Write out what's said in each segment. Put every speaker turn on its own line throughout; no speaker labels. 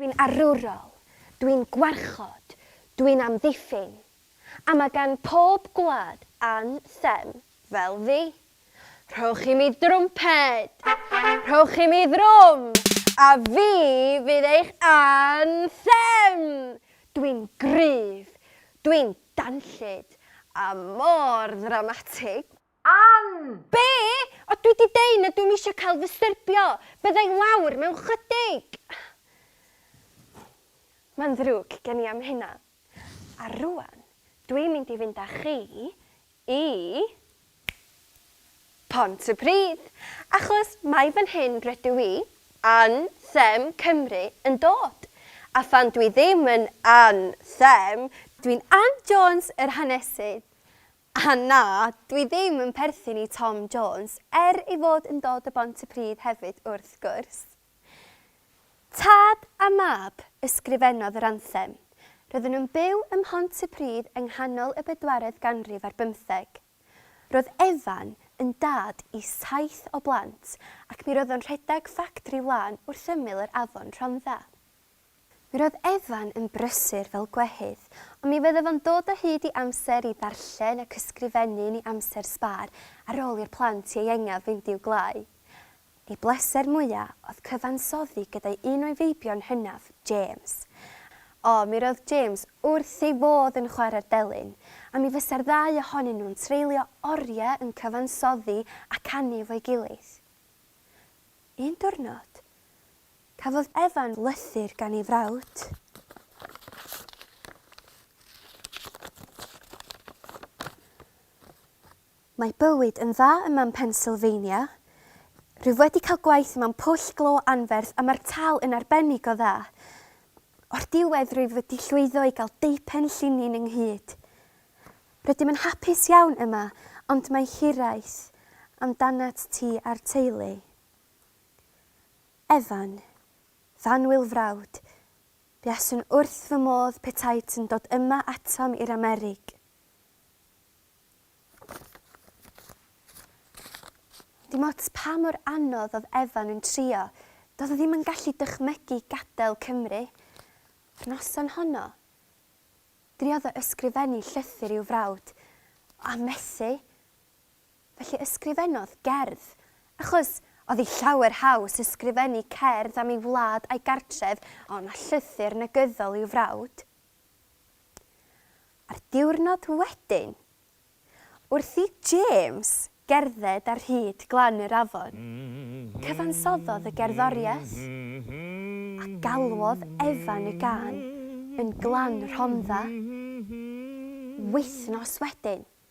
Dwi'n arwrol, dwi'n gwarchod, dwi'n amddiffyn, a mae gan pob gwlad an them fel fi. Rhowch i mi drwmped! Rhowch i mi ddrwm! A fi fydd eich an them! Dwi'n gryf, dwi'n danllyd, a mor ddramatig! Ann! Be? O dwi di deu na dwi'm isio cael fy styrbio! Byddai lawr mewn chydig! Mae'n ddrwg gen i am hynna. A rwan, dwi'n mynd i fynd â chi i Pontypridd, achos mai fan hyn rydw i, Ann Them Cymru, yn dod. A phan dwi ddim yn Ann Them, dwi'n Ann Jones yr hanesydd. A na, dwi ddim yn perthyn i Tom Jones, er ei fod yn dod o Bontypridd hefyd wrth gwrs. Tad a mab ysgrifennodd yr anthem. Roedden nhw'n byw ym Mhontypridd yng nghanol y bedwaredd ganrif ar bymtheg. Roedd Evan yn dad i saith o blant ac mi roedd o'n rhedeg ffactri wlân wrth ymyl yr afon Rhondda. Mi roedd Evan yn brysur fel gwehydd, ond mi fyddaf yn dod o hyd i amser i ddarllen ac ysgrifennu yn ei amser sbâr ar ôl i'r plant ieuengaf fynd i'w gwlâu. Ei bleser mwya' oedd cyfansoddi gyda'i un o'i feibion hynaf, James. O, mi roedd James wrth ei fodd yn chwarae'r delyn, a mi fysa'r ddau ohonyn nhw'n treulio oriau yn cyfansoddi a canu efo'i gilydd. Un diwrnod, Cafodd Evan lythyr gan ei frawd. Mae bywyd yn dda yma yn Pennsylvania. Rwyf wedi cael gwaith yma'n pwll glo anferth a mae'r tâl yn arbennig o dda. O'r diwedd rwyf wedi llwyddo i gael deupen llinyn ynghyd. Rydym yn hapus iawn yma ond mae hiraeth amdanat ti a'r teulu. Evan, Fanwyl frawd, buaswn wrth fy modd petai ti'n dod yma atom i'r Amerig. Dim ots pa mor anodd oedd Evan yn trio, doedd o ddim yn gallu dychmygu gadael Cymru. Yr noson honno, driodd o ysgrifennu llythyr i'w frawd, a methu. Felly ysgrifennodd gerdd, achos oedd hi llawer haws ysgrifennu cerdd am ei wlad a'i gartref ond na llythyr negyddol i'w frawd. A'r diwrnod wedyn, wrth i James gerdded ar hyd glan yr afon, cyfansoddodd y gerddoriaeth, a galwodd Evan y gân yn Glan Rhondda. Wythnos wedyn,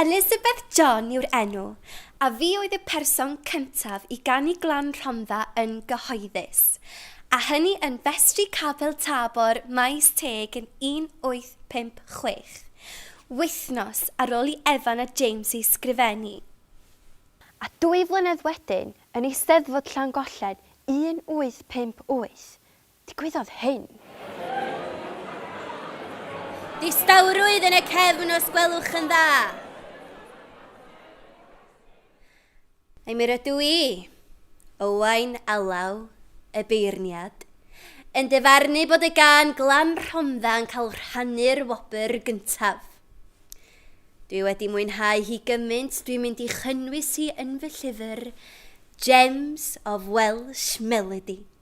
Elizabeth John yw'r enw, a fi oedd y person cyntaf i ganu Glan Rhondda yn gyhoeddus, a hynny yn Festri Capel Tabor, Maes Teg yn 1856, wythnos ar ôl i Evan a James ei sgrifennu. A dwy flynedd wedyn, yn Eisteddfod Llangollen 1858, Digwyddodd hyn. Distawrwydd yn y cefn os gwelwch yn dda. Ai mi rydw i, Owain Alaw, y beirniad, yn dyfarnu bod y gân glam Rhondda yn cael rhannu'r wobr gyntaf? Dwi wedi mwynhau hi gymaint dwi'n mynd i chynnwys hi yn fy llyfr Gems of Welsh Melody.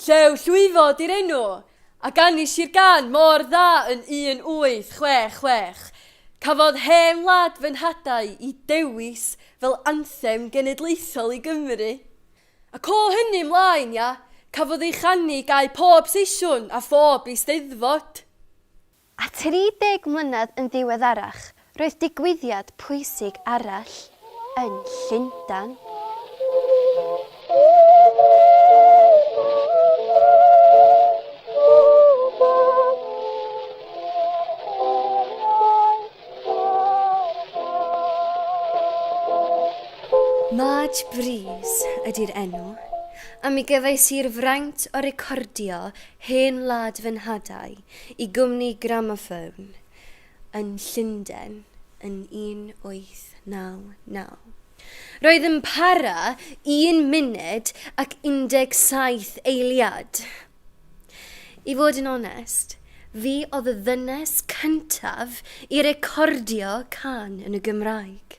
Llew Llwyfo 'di'r enw, a ganis i'r gân mor dda yn 1866. Cafodd Hen Wlad fy Nhadau i dewis fel anthem genedlaethol i Gymru. Ac o hynny 'mlaen, ia, cafodd ei chanu gau pob seisiwn a phob Eisteddfod. A 30 mlynedd yn ddiweddarach, roedd digwyddiad pwysig arall yn Llundain. Madge Brees ydy'r enw, a mi gefais i'r fraint o recordio hen wlad fy nhadau Y gwmni Gramophone yn Llundain yn 1899. Roedd yn para un munud ac 17 eiliad. I fod yn onest, fi oedd y ddynes cyntaf i recordio cân yn y Gymraeg.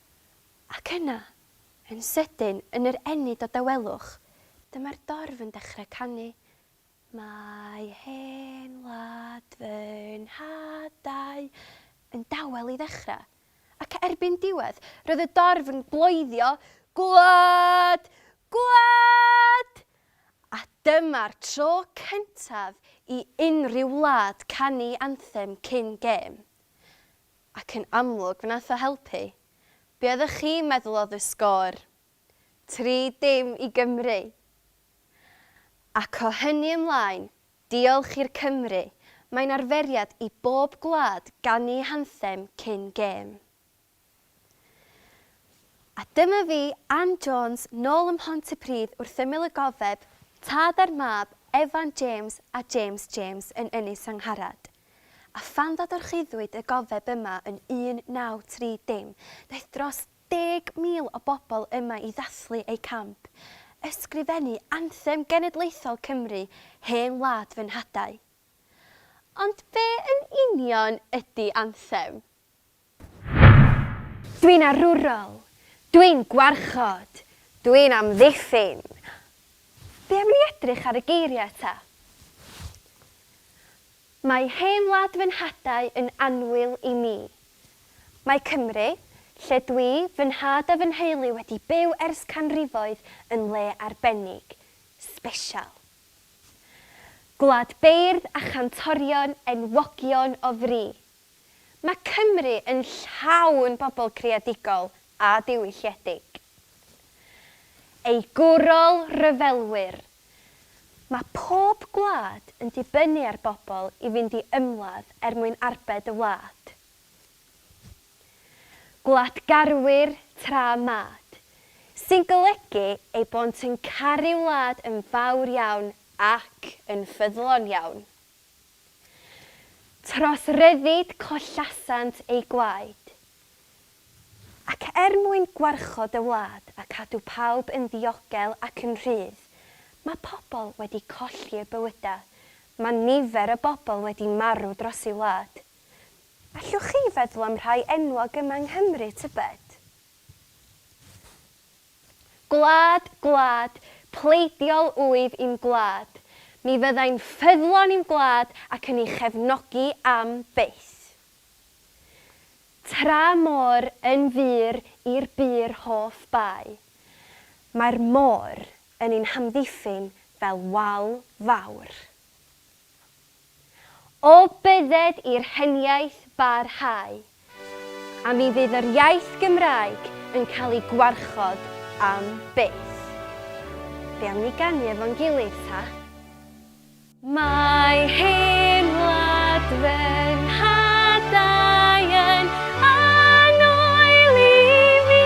Ac yna, yn sydyn, yn yr ennyd o dawelwch, dyma'r dorf yn dechrau canu, Mae hen wlad fy nhadau, yn dawel i ddechrau. Ac erbyn diwedd, roedd y dorf yn bloeddio, Gwlad! Gwlad! A dyma'r tro cyntaf i unrhyw wlad canu anthem cyn gêm. Ac yn amlwg fe nath o helpu. Be oeddech chi'n meddwl oedd y sgôr? Tri dim i Gymru! Ac o hynny ymlaen, diolch i'r Cymry, mae'n arferiad i bob gwlad ganu hanthem cyn gêm. A dyma fi, Ann Jones, nôl ym Mhontypridd wrth ymyl y gofeb, tad a'r mab, Evan James a James James yn Ynys Angharad. A phan ddadorchuddwyd y gofeb yma yn 1930, daeth dros 10,000 o bobl yma i ddathlu eu camp, ysgrifennu anthem genedlaethol Cymru, Hen Wlad fy Nhadau. Ond be yn union ydi anthem? Dwi'n arwrol! Dwi'n gwarchod! Dwi'n amddiffyn! Be am ni edrych ar y geiriau eto? Mae hen wlad fy nhadau yn annwyl i mi. Mae Cymru, lle dwi, fy nhad a fy nheulu wedi byw ers canrifoedd yn le arbennig, sbesial. Gwlad beirdd a chantorion enwogion o fri. Mae Cymru yn llawn bobl creadigol a diwylliedig. Ei gwrol ryfelwyr. Mae pob gwlad yn dibynnu ar bobl i fynd i ymladd er mwyn arbed y wlad. Gwladgarwyr tra mad. Sy'n golygu eu bod yn caru wlad yn fawr iawn ac yn ffyddlon iawn. Tros ryddid collasant eu gwaed. Ac er mwyn gwarchod y wlad a cadw pawb yn ddiogel ac yn rhydd, mae pobl wedi colli eu bywydau, mae nifer o bobl wedi marw dros ei wlad. Allwch chi feddwl am rhai enwog yma yng Nghymru, tybed? Gwlad, gwlad, pleidiol wyf i'm gwlad, mi fyddai'n ffyddlon i'm gwlad ac yn ei chefnogi am byth. Tra môr yn fur i'r bur hoff bai, mae'r môr yn ein hamddiffyn fel wal fawr. O bydded i'r heniaith barhau, a mi fydd yr iaith Gymraeg yn cael ei gwarchod am byth. Be am ni ganu efo'n gilydd ta? Mae hen wlad fy nhadau yn annwyl i mi.